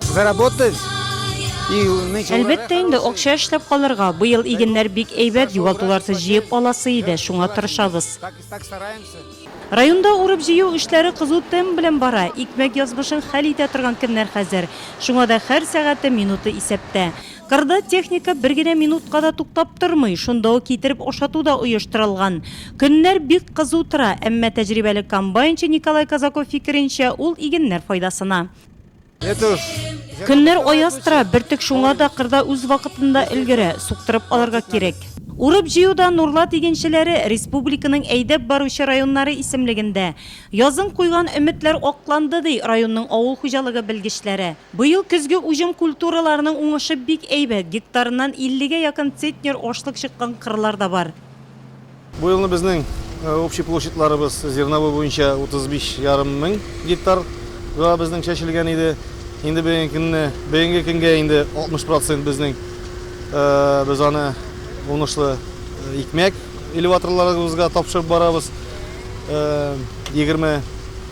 Заработать. Әлбәттә инде акча эшләп калырга. Быел игеннәр бик әйбәт, югалтуларсыз җыеп аласы иде, шуңа тырышабыз. Районда урып җыю эшләре кызу темп белән бара. Икмәк язмышын хәл итә торган көннәр хәзер. Шуңа да һәр сәгате, минуты исәптә. Кырда техника бер генә минутка да туктап тормый, шунда ук китереп ашату да оештырылган. Көннәр бик кызу тора, әмма тәҗрибәле комбайнчы Николай Казаков фикеренчә, ул игеннәр файдасына. Көннәр аяз тора, бөртек шуңа да кырда үз вакытында өлгерә, суктырып алырга кирәк. Урып-җыюда Нурлат игенчеләре республиканың әйдәп баручы районнары исемлегендә. Язын куйган өметләр акланды, ди районның авыл хуҗалыгы белгечләре. Быел көзге уҗым культураларының уңышы бик әйбәт, гектарыннан 50 гә якын центнер ашлык чыккан кырлар да бар. Бу елны безнең общий площадьларыбыз зерновой буенча 35 ярым мең гектар га безнең чәчелгән иде. Инде бүгенге көнне, бүгенге көнгә инде 60 процент безнең без аны уңышлы икмәк. Элеваторларыбызга тапшырып барабыз. Егерме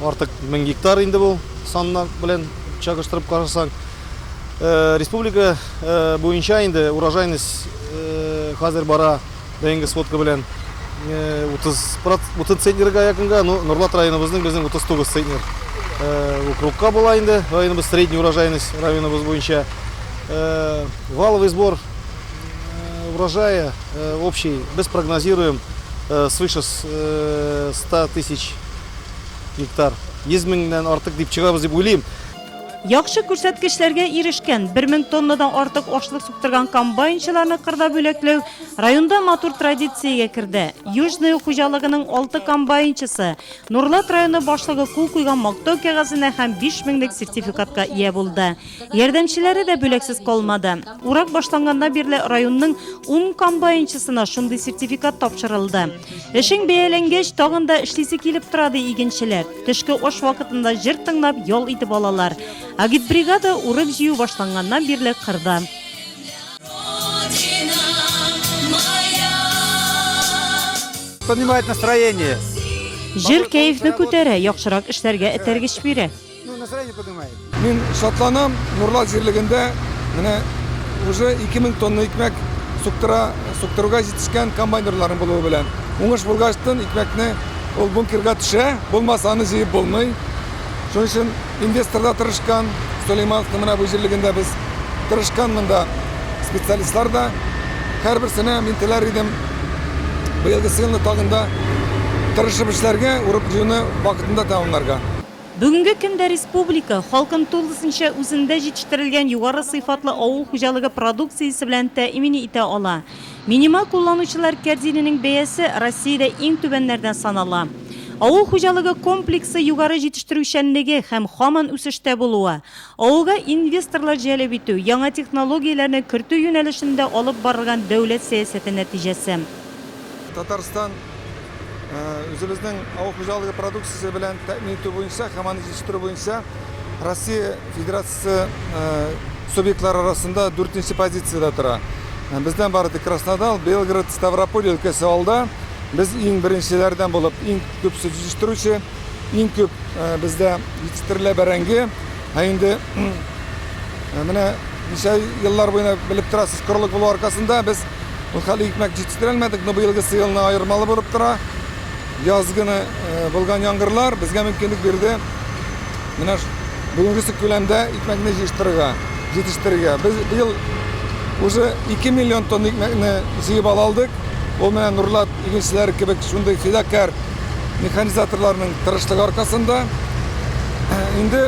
артык мең гектар инде бу саннар белән чагыштырып карасаң. Республика буенча инде урожайность хәзер бара бәйенге сводка белән 30 центнерга якынга, но Норлат районыбызның безнең 39 центнер округка була инде районыбыз, средний урожайность районыбыз буенча. Валовый сбор Урожае общий без прогнозируем свыше 100 тысяч гектар. 100 меңнән артык дип чыгабыз дип уйлыйм. Яхшы күрсәткечләргә ирешкән, 1 мең тоннадан артык ашлык суктырган комбайнчыларны кырда бүләкләү районда матур традициягә керде. Южное хуҗалыгының алты комбайнчысы Нурлат районы башлыгы кул куйган мактау кәгазенә һәм биш меңлек сертификатка ия булды. Ярдәмчеләре дә бүләксез калмады. Урак башланганнан бирле районның ун комбайнчысына шундый сертификат тапшырылды. Эшең бәяләнгәч, тагын да эшлисе килеп тора, ди игенчеләр. Төшке аш вакытында җыр тыңлап, ял итеп алалар. Агитбригада урып-җыю башланганнан бирле кырда. Поднимает настроение. Җыр кәефне күтәрә, яхшырак эшләргә этәргеч бирә. Ну, настроение поднимает. Мин шатланам, Нурлат җирлегендә менә уже 2000 тонна икмәк суктыра, суктыруга җитешкән комбайнерларын булуы белән. Уңыш булгачтын икмәкне ул бункерга төшә, булмаса аны җыеп булмый. Шуның өчен инвестор да тырышкан, Сулеймановның менә бу җирлегендә без тырышкан монда специалистлар да. Һәрберсенә мин теләр идем быелгы сыйны тагында тырышып эшләргә, урып җыюны вакытында тәмамларга. Бүгенге көндә республика халкын тулысынча үзендә җитештерелгән югары сыйфатлы авыл хуҗалыгы продукциясе белән тәэмин итә ала. Минималь кулланучылар кәрзиненең бәясе Россиядә иң түбәннәрдән санала. Авыл хуҗалыгы комплексы югары җитештерүчәнлеге һәм һаман үсештә булуы, Авылга инвесторлар җәлеп итү, яңа технологияләрне кертү юнәлешендә алып барылган дәүләт сәясәте нәтиҗәсе. Татарстан үзебезнең авыл хуҗалыгы продукциясе белән тәэмин итү буенча һәм аны җитештерү буенча Россия Федерациясе субъектлары арасында дүртенче позициядә тора. Бездән бары тик Краснодал, Белгород, Ставрополь өлкәсе алда. Без иң беренчеләрдән булып иң күп сөт җитештерүче. Иң күп бездә җитештерелә бәрәңге. Ә инде менә ничә еллар буена белеп торасыз, корылык булу аркасында без ул хәле икмәк җитештерәлмәдек, но быелгы сыелны аермалы булып тора. Яз көне булган яңгырлар безгә мөмкинлек бирде. Менә бүгенгесе күләмдә икмәкне җитештерергә, җитештерергә. Без быел уже 2 миллион тонна икмәкне җыеп ала алдык. Ул менә Нурлат игенчеләре кебек шундый фидакарь механизаторларның тырышлыгы аркасында. Инде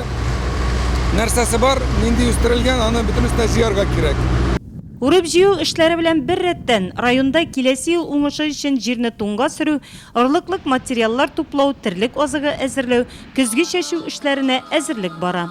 нәрсәсе бар, нинди үстерелгән, аны бөтенесенә җыярга кирәк. Үреп-җыю эшләре белән бер рәттән, районда киләсе ел уңышы өчен җирне туңга сөрү, орлыклык материаллар туплау, терлек азыгы әзерләү, көзге чәчү эшләренә әзерлек бара.